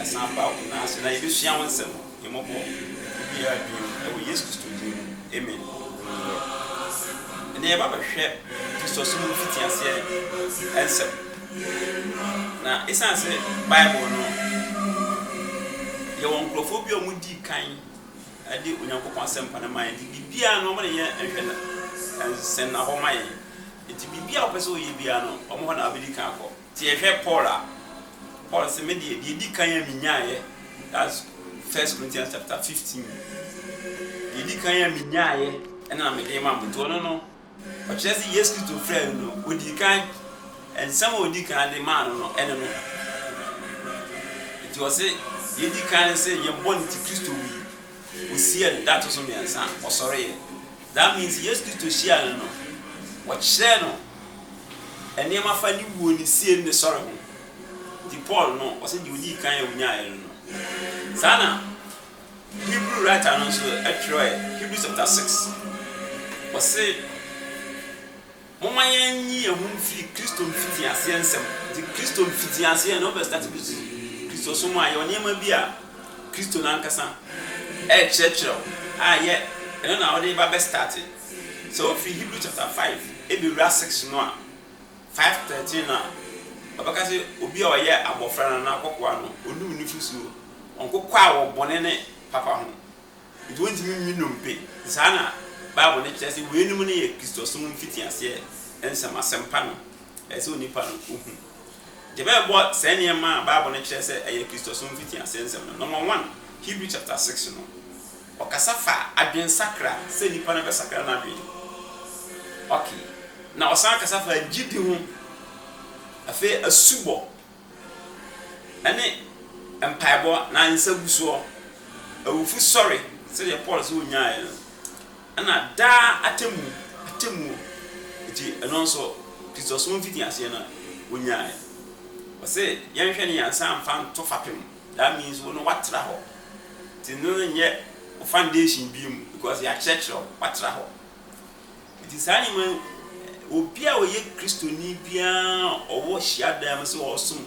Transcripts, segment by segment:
Ɛsan baw, nanso na yebesua wo nsɛm. Mmɔbɔ biara din mu, ɛwɔ Yesu Kristo din mu, amen. Nnurɔ. Ɛnnɛ yɛba bɛhwɛ Kristosom mu mfitiaseɛ nsɛm. Na esiane sɛ Bible no, yɛwɔ nkurɔfoɔ bi a wɔdii kan de Onyankopɔn asɛmpa no ma yɛn nti, biribiara no, wɔn na yɛ nhwɛ na nsɛnnahɔ ma yɛn. Nti biribiara a wopɛ sɛ woyɛ biara no, wɔn hɔ na wobedi kan akɔ. Nti yɛhwɛ Paul a, Paul se, Me deɛ, deɛ edi kan a minyaeɛ, that's First Corinthians chapter fifteen, deɛ edi kan a minyaeɛ ɛna na mede rema mo. Nti ɔno no, ɔkyerɛ se Yesu Kristo frɛɛ no no, odii kan, nsɛm a odii kan de maa no no, ɛne no. Nti ɔse, deɛ edi kan ne se yɛn bɔne nti Kristo wui, wosiee no, da a ɛto so mmiɛnsa ɔsɔreeɛ. That means Yesu Kristo hyiaa no no, wɔkyerɛɛ no nneɛma fa ne wuo, ne sie, ne ne sɔre ho. Nti Paul no, ɔse deɛ ɔdii kan a ɔnyaaeɛ no no. Saa na Hebrew writer no nso twerɛɛ, Hebrews chapter 6, ɔse, Momma yɛnnye yɛn ho mfiri Kristo mfitiaseɛ nsɛm ho. Nti Kristo mfitiaseɛ no, wobɛ start Kristosom a, yɛwɔ nneɛma bi a Kristo no ankasa rekyerɛkyerɛ wo a yɛ ɛno na wode ba bɛ start. Sɛ wofiri Hebrew chapter five bɛwura six no a, five thirteen no a, ɔbɛka sɛ obi a ɔyɛ abɔfra no anaa akokoaa no, ɔnni wo nufosuo, ɔnkokɔ a wɔ bɔne ne papa ho. Enti wontumi nni nnompe. Saa na Bible no kyerɛ sɛ weinom no yɛ Kristosom mfitiaseɛ nsɛm, asɛmpa no a ɛsɛ sɛ onipa no ɔhu. Enti ɛbɛbɔ saa nneɛma a Bible no kyerɛ sɛ ɛyɛ Kristosom mfitiaseɛ nsɛm no. Nɔma one, Hebrew chapter six no, ɔkasa fa adwensakra, sɛ nipa no bɛsakra n'adwene. Okay. Na ɔsan kasa fa gyidi ho. Afei asubɔ. Ɛne mpaebɔ na nsa gu soɔ. Awufo sɔre sɛdeɛ Paul sɛ ɔnyaeɛ no. Ɛna daa atɛmmu, atɛmmuo. Nti ɛno nso Kristosom mfitiaseɛ no wɔnyaeɛ. Wɔse yɛnhwɛ no yɛn nsa mfa nto fapem. That means wo no woatra hɔ. Nti no no nyɛ wo foundation bio mu because yɛakyerɛkyerɛ wo, woatra hɔ. Enti saa nneɛma yi, obi a ɔyɛ Kristoni biara a ɔwɔ hyiadan mu sɛ ɔresom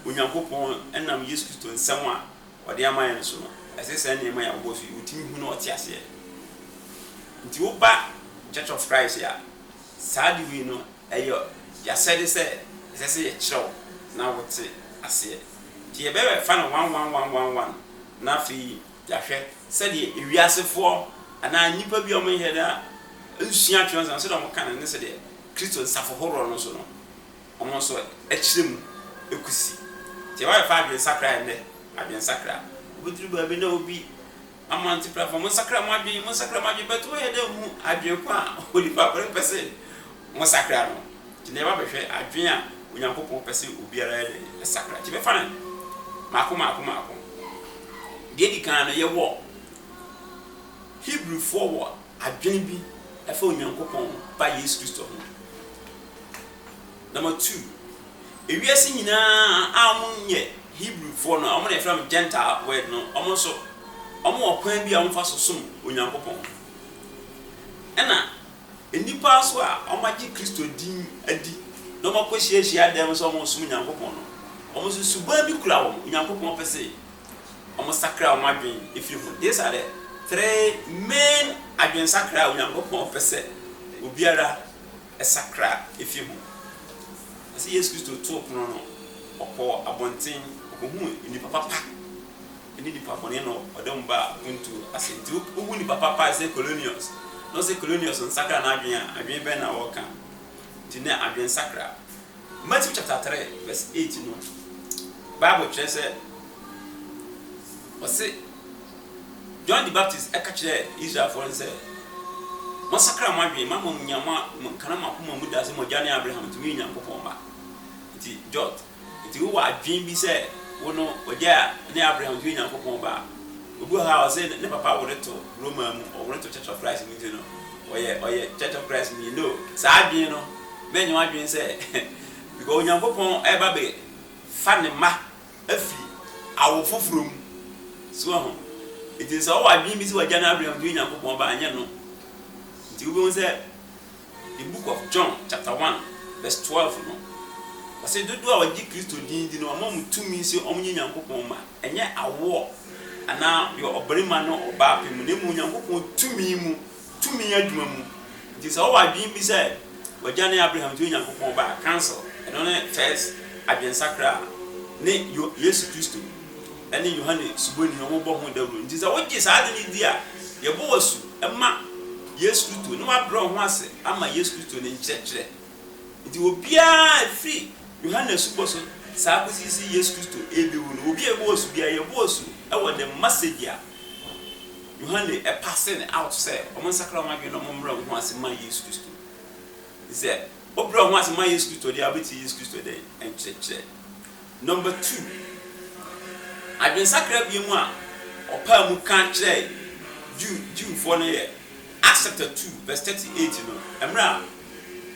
Onyankopɔn nam Yesu Kristo nsɛm a ɔde ama yɛn no so no, ɛsɛ saa nneɛma yi a ɔwɔ so yi, ɔtumi hu na ɔte aseɛ. Nti woba Church of Christ a, saa de wei no, ɛyɛ yɛasɛde sɛ ɛsɛ sɛ yɛkyerɛ wo na wote aseɛ. Nti yɛbɛfa no one one one one one na afei Yɛahwɛ sɛdeɛ ewiasefoɔ anaa nnipa bi a wɔnyɛ da nsua Atwerɛsɛm no, sɛdeɛ wɔka no ne sɛdeɛ Kristo nsafo horoɔ no nso no, wɔn nso kyerɛ mu kɔsi. Nti yɛba bɛfa adwensakra ɛnnɛ, adwensakra. Wobɛduru baabi na obi ama nteprafo, monsakra mo adwene, monsakra mo adwene, but wɔnyɛ da nhu adwene ko a onipa korɔ pɛ sɛ Wɔsakra no. Nti nneɛma bɛhwɛ adwene a Onyankopɔn pɛ sɛ obiara yɛ dɛn? Sakra. Nti yɛbɛfa no mmaako mmaako mmaako. Deɛ edi kan no, yɛwɔ Hebrifoɔ wɔ adwene bi ɛfa Onyankopɔn Ba Yesu Kristo ho. Number two, ewiase nyinaa a wɔnyɛ Hebrifoɔ no, wɔn na yɛfrɛ wɔn Gentile word no, wɔn nso wɔwɔ kwan bi a wɔfa so som Onyankopɔn. Ɛna. Nnipa nso a wɔagye Kristo din adi na wɔakɔhyia hyiadan mu sɛ wɔresom Onyankopɔn no, wɔn nso suban bi kura wɔn. Onyankopɔn pɛ sɛ wɔsakra wɔn adwene fi ho. These are the three main adwensakra a Onyankopɔn pɛ sɛ obiara sakra fi ho. Ɛsɛ Yesu Kristo too pono no, ɔkɔɔ abɔnten, ɔkɔhuu nnipa papa. ne nipa bɔne no ɔda mu ba a ontu ase. Enti wohu nipa papa a ɛsɛ Kolonius na ɔse Kolonius nsakra n'adwene a, adwene bɛn na ɔreka? Enti na adwensakra. Matthew chapter three verse eight no, Bible kyerɛ sɛ ɔse John the Baptist ɛka kyerɛɛ Israelfoɔ no sɛ, Monsakra mo adwene, moama mo nya mo a, mo nkana mo akoma mu da sɛ mo agya ne Abraham, enti moyɛ Onyankopɔn mma. Enti John. Enti wowɔ adwene bi sɛ wo no ogya ne abere a wogye Onyankopɔn ba a? Obi wɔ ha a ɔse ne papa wore to Roma mu, ɔwore to Church of Christ mu nti no ɔyɛ ɔyɛ Church of Christ ni. No, saa adwene no mɛnyɛ w'adwene sɛ because Onyankopɔn reba abɛ fa ne mma afi awo foforɔ mu. So wahu? Enti sɛ wowɔ adwene bi sɛ wagya ne abere a wogye Onyankopɔn ba a, ɛnyɛ no. Enti wobɛhu sɛ The Book of John chapter one verse twelve no, ɔse dodoɔ a wɔgye Kristo din di no wama wɔn tumi se wɔnyɛ Nyankopɔn mma, ɛnyɛ awoɔ anaa deɛ ɔbarima ne ɔbaa pɛ mu na mmom Nyankopɔn tumi mu, tumi adwuma mu. Nti sɛ wɔwɔ adwene bi sɛ w'agya ne Abraham nti woyɛ Nyankopɔn ba a, cancel. Ɛno ne first adwensakra a ne Yesu Kristo ne Yohane Suboni no wɔbɔ ho dawuro. Nti sɛ wogye saa ade no di a, yɛbɔ wo asu ma. Yesu Kristo, na wɔabrɛ wɔn ho ase ama Yesu Kristo ne nkyerɛkyerɛ. Nti obiara, ɛfiri Yohane asubɔ so saa kɔsi se Yesu Kristo rebewu no, obi a yɛbɔ asu biara, yɛbɔ asu wɔ the message a Yohane passing out sɛ wɔnsakra wɔn adwene na wɔmmrɛ wɔn ho ase mma Yesu Kristo. Nti sɛ wobrɛ wo ho ase ma Yesu Kristo deɛ a, wobɛtie Yesu Kristo dɛn nkyerɛkyerɛ? Number two, adwensakra binom a ɔpaa mu ka kyerɛɛ Jew, Jewfoɔ no yɛ, Acts chapter two verse thirty eight no, mmerɛ a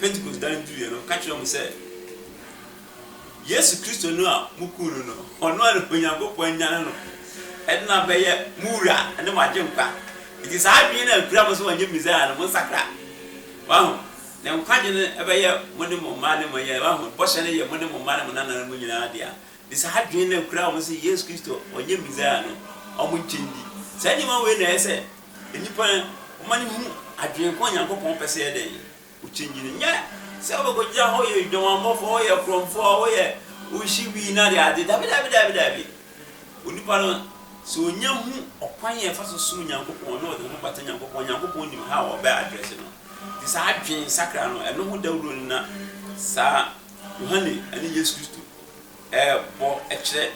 Pentecost da no duruiɛ no, ɔka kyerɛɛ wɔn sɛ, Yesu Kristo no a mokuu no no, ɔno ara na Onyankopɔn anyane no de no abɛyɛ mo Wura ne mo Agyenkwa. Nti saa adwene no a ɛkura mo sɛ ɔnyɛ Mesia no, monsakra. Waho? Ne nkwagye no bɛyɛ mo ne mo mma ne mo yere. Wahu? Bɔhyɛ no yɛ mo ne mo mma ne mo nananom nyinaa dea. Nti saa adwene no kura wɔn sɛ Yesu Kristo ɔnyɛ Mesia no, wɔnkyɛ nni. Saa nneɛma wei na ɛyɛ sɛ nnipa ma no hu adwene ko a Onyankopɔn pɛ sɛ yɛyɛ dɛn? Wokyɛngyi no. Nyɛ sɛ wobɛkɔgyina hɔ yɛ dwamanbɔfoɔ, woyɛ korɔmfoɔ, woyɛ wohye wii no adeade. Dabi, dabi, dabi, dabi. Onipa no, sɛ ɔnya hu ɔkwan a ɛfa so som Onyankopɔn na ɔde ne ho bata Onyankopɔn a, Onyankopɔn nim how a ɔbɛ address no. Te saa adwene nsakra no, ɛno ho dawuro no na saa Yohane ne Yesu Kristo rebɔ kyerɛ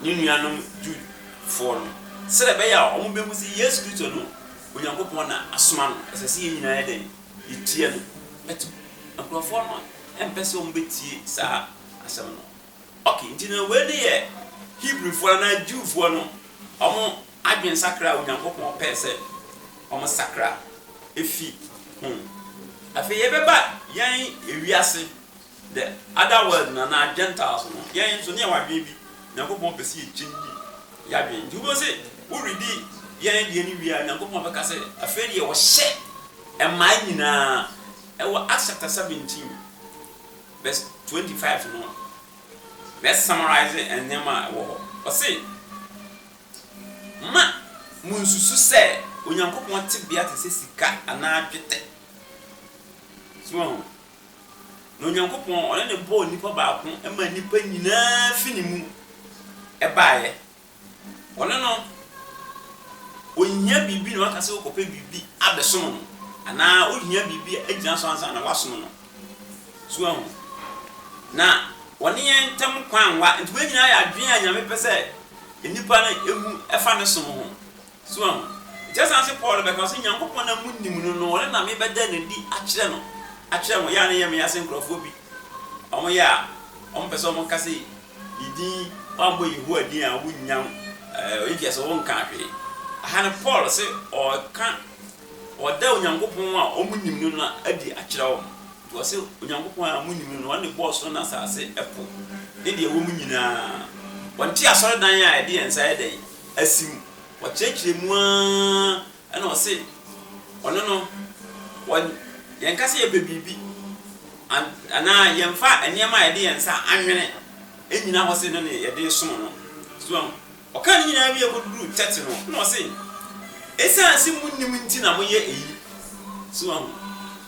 ne nuanom Jewfoɔ no, sɛdeɛ ɛbɛyɛ a wɔbɛhu sɛ Yesu Kristo no, Onyankopɔn na asoma no. Ɛsɛ sɛ yɛn nyinaa yɛ dɛn? Yɛtie no. But nkurɔfoɔ no mpɛ sɛ wɔbɛtie saa asɛm no. Ok, nti na wei ne yɛ Hebrifoɔ anaa Jewfoɔ no wɔn Adwensakra a Onyankopɔn pɛe sɛ wɔsakra fi ho. Afei yɛbɛba yɛn wiase, the other world no anaa Gentiles no, yɛn nso na yɛwɔ adwene bi. Onyankopɔn pɛ sɛ yɛchange yɛadwene. Nti wobɛhu sɛ woredi yɛn deɛ no wie a, Onyankopɔn bɛka sɛ, afei deɛ ɔhyɛ mmaa nyinaa, ɛwɔ Acts chapter 17 verse 25 no, mɛ summarise nneɛma a ɛwɔ hɔ. Ɔse. Mma munnsusu sɛ Onyankopɔn tebea te sɛ sika anaa dwetɛ. So woahu? Na Onyankopɔn, ɔne na ɔbɔɔ nipa baako maa nnipa nyinaa fi ne mu baeɛ. Ɔne no, ɔnhia biribi na waka sɛ wokɔpɛ biribi abɛsom no, anaa wohia biribi agyina so ansa na woasom no. So ahu? Na wɔne yɛn ntam kwan nwa. Nti wei nyinaa yɛ adwene a Nyame pɛ sɛ nnipa no hu ɛfa Ne som ho. So ahu? Nti ɛsan se Paul bɛka ɔse, Nyankopɔn a monim no no, ɔno na mebɛda no adi akyerɛ no, akyerɛ mo. Yɛ a na ɛyɛ meya se nkorɔfoɔ bi wɔn yɛ a wɔn pɛ sɛ wɔn ka se ne din, wɔammɔ Yehowa din a wonnya, ɛɛ, ɔyɛ nti ɛse wɔn nkaa hwee. Aha no Paul se ɔɔka. Ɔda Onyankopɔn a wɔnim no no adi akyerɛ wɔn. Nti ɔse, Onyankopɔn a monim no, ɔne bɔɔ soro ne asase, ɛpo, ne deɛ ɛwɔ mu nyina ara. Wɔnte asɔredan a yɛde yɛn nsa ayɛ dɛn? Asi mu. Wɔkyerɛkyerɛ mu ara na wɔse, Ɔno no, wɔ, yɛnka sɛ yɛpɛ biribi, an, anaa yɛmfa nneɛma a yɛde yɛn nsa anwene nnyina hɔ se ɛno ne yɛde resom no. So ahu? Ɔkaa ne nyinaa wiee kɔduruu kyɛkye no, na ɔse, Ɛsiane se monnim nti na moyɛ eyi. So woahu?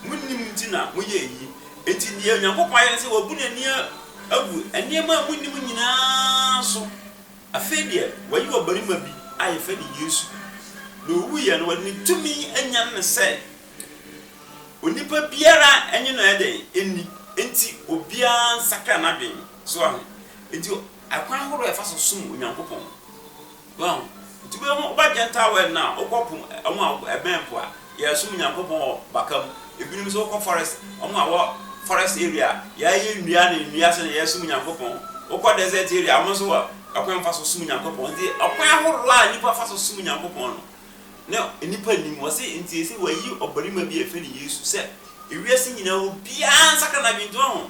Monnim nti na moyɛ eyi. Enti deɛ Onyankopɔn ayɛ ne sɛ wabu n'ani agu nneɛma a monnim nyinaa so. Afei deɛ wayi ɔbarima bi a yɛfrɛ no Yesu, na ɔwuiɛ no, ɔde ne tumi anyane no sɛ onipa biara nnye no ɛdɛn nni, enti obiara nsakra n'adwene. So woahu? Enti akwan ahorow a yɛfa so som Onyankopɔn no, woahu? Nti wobɛhu, woba Gentile world no a, wokɔ po, wɔn a ɛbɛn po a, yɛsom Onyankopɔn wɔ baka mu. Ebinom nso wokɔ forest, wɔn a wɔ forest area a, yɛayɛ nnua ne nnua sɛnea yɛsom Onyankopɔn. Wokɔ desert area a, wɔn nso wɔ kwan fa so som Onyankopɔn. Nti ɔkwan ahorow a nnipa fa so som Onyankopɔn no, na nnipa nnim. Wɔse, enti ese wɔayi ɔbarima bi a yɛfrɛ no Yesu sɛ wiase nyinaa obiara nsakra n'adwene. Nti woahu?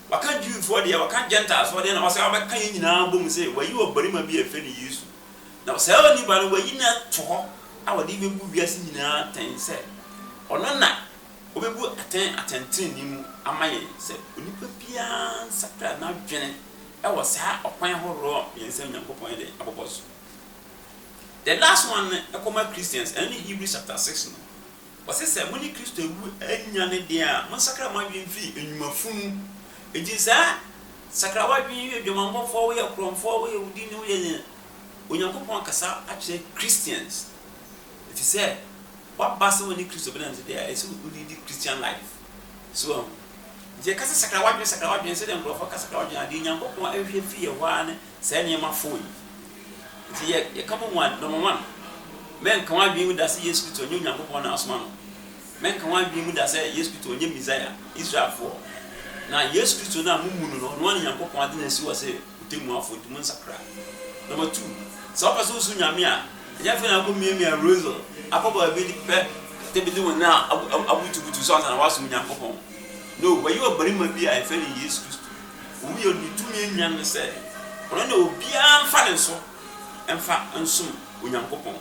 Waka Jewfoɔ deɛ, waka Gentilefoɔ deɛ, na wasan abɛka yɛn nyinaa abom sɛ wayi ɔbarima bi a yɛfrɛ no Yesu. Na saa onipa no, wayi no ato hɔ a wɔde rebɛbu wiase nyinaa atɛn sɛ ɔno na ɔbɛbu atɛn atɛntenenee mu ama yɛn, sɛ onipa biara nsakra n'adwene wɔ saa ɔkwan ahoroɔ mmiɛnsa a Onyankopɔn de abobɔ so. The last one no kɔma Christians, ɛno ne Hebrews chapter six no. Ɔse sɛ mo ne Kristo awu anya no deɛ a, monsakra mo adwene mfiri nnwuma funu, enti saa, sakra w'adwene, woyɛ dwamanbɔfoɔ, woyɛ korɔmfoɔ, woyɛ odini, woyɛ nea, Onyankopɔn akasa akyerɛ Christians, ɛfiri sɛ woaba sɛ wo ne Kristo bɛnante deɛ a, ɛsɛ sɛ wo liidi Christian life, so wahu, nti yɛka sɛ sakra w'adwene, sakra w'adwene, sɛdeɛ nkorɔfoɔ ka sakra w'adwene adeɛ, Onyankopɔn hwehwɛ firi yɛhɔ ara ne saa nneɛma four yi. Nti yɛ yɛka bɔ mu a, number one, mɛnka w'adwene mu da sɛ Yesu Kristo nyɛ Onyankopɔn na asoma no. Mɛnka w'adwene mu da sɛ Yesu Kristo nyɛ Messiah, Israelfoɔ. Na Yesu Kristo no a mo mmu no no, ɔno ara na Nyankopɔn ade no asi hɔ sɛ Otemmuafoɔ, nti monsakra. Number two, sɛ wopɛ sɛ wosu Nyame a, ɛnyɛ afei na akɔ miamia Rosal, akɔ baabi de pɛ kɛtɛ bi de wo nan abutubutu so ansa na woasom Nyankopɔn. No, wɔayi ɔbarima bi a yɛfrɛ no Yesu Kristo. Wɔn yɛ ne tumi nnuan no sɛ ɔno na obiara mfa ne nso mfa nsom Onyankopɔn.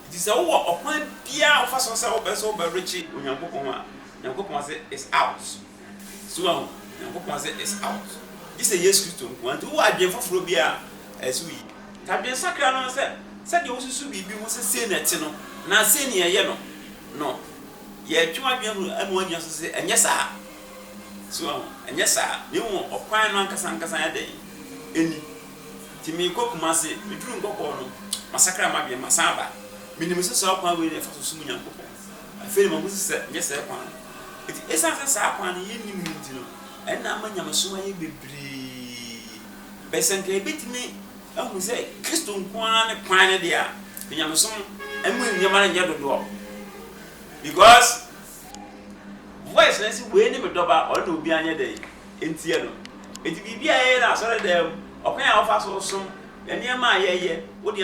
Nti sɛ wowɔ ɔkwan biara a wofa so sɛ wopɛ sɛ wobɛrekye Onyankopɔn a, Nyankopɔn se it's out. So wahu? Nyankopɔn se it's out. Gye sɛ Yesu Kristo nko ara. Nti wowɔ adwene foforɔ bi a, ɛyɛ sɛ woyi. T'adwensakra no sɛ sɛdeɛ wosusu biribi ho sɛ sei na ɛte no anaa sei na yɛyɛ no no, yɛtwe w'adwene hu ɛma woagyina so sɛ ɛnyɛ saa. So woahu? Ɛnyɛ saa, na mmom ɔkwan no ankasa ankasa ayɛ dɛn? Ani. Nti merekɔ Kumase, meduru Nkɔkɔɔ no, masakra m'adwene, masan aba. Minim sɛ saa ɔkwan wei na yɛfa so som Onyankopɔn. Afei na mahu sɛ ɛnyɛ saa kwan no. Enti esiane sɛ saa kwan no yennim no nti no, ɛnna ama nyamesom ayɛ bebree. Bɛyɛ sɛ anka yebetumi ahu sɛ Kristo nko ara ne kwan no de a, anka nyamesom mu nneɛma no nyɛ dodoɔ. Because. Voice no se wei ne me dɔba a ɔno na obiara nyɛ dɛn ntia no. Enti biribi a yɛyɛ no asɔredan mu, ɔkwan a wofa so som, nneɛma a yɛyɛ, wo deɛ.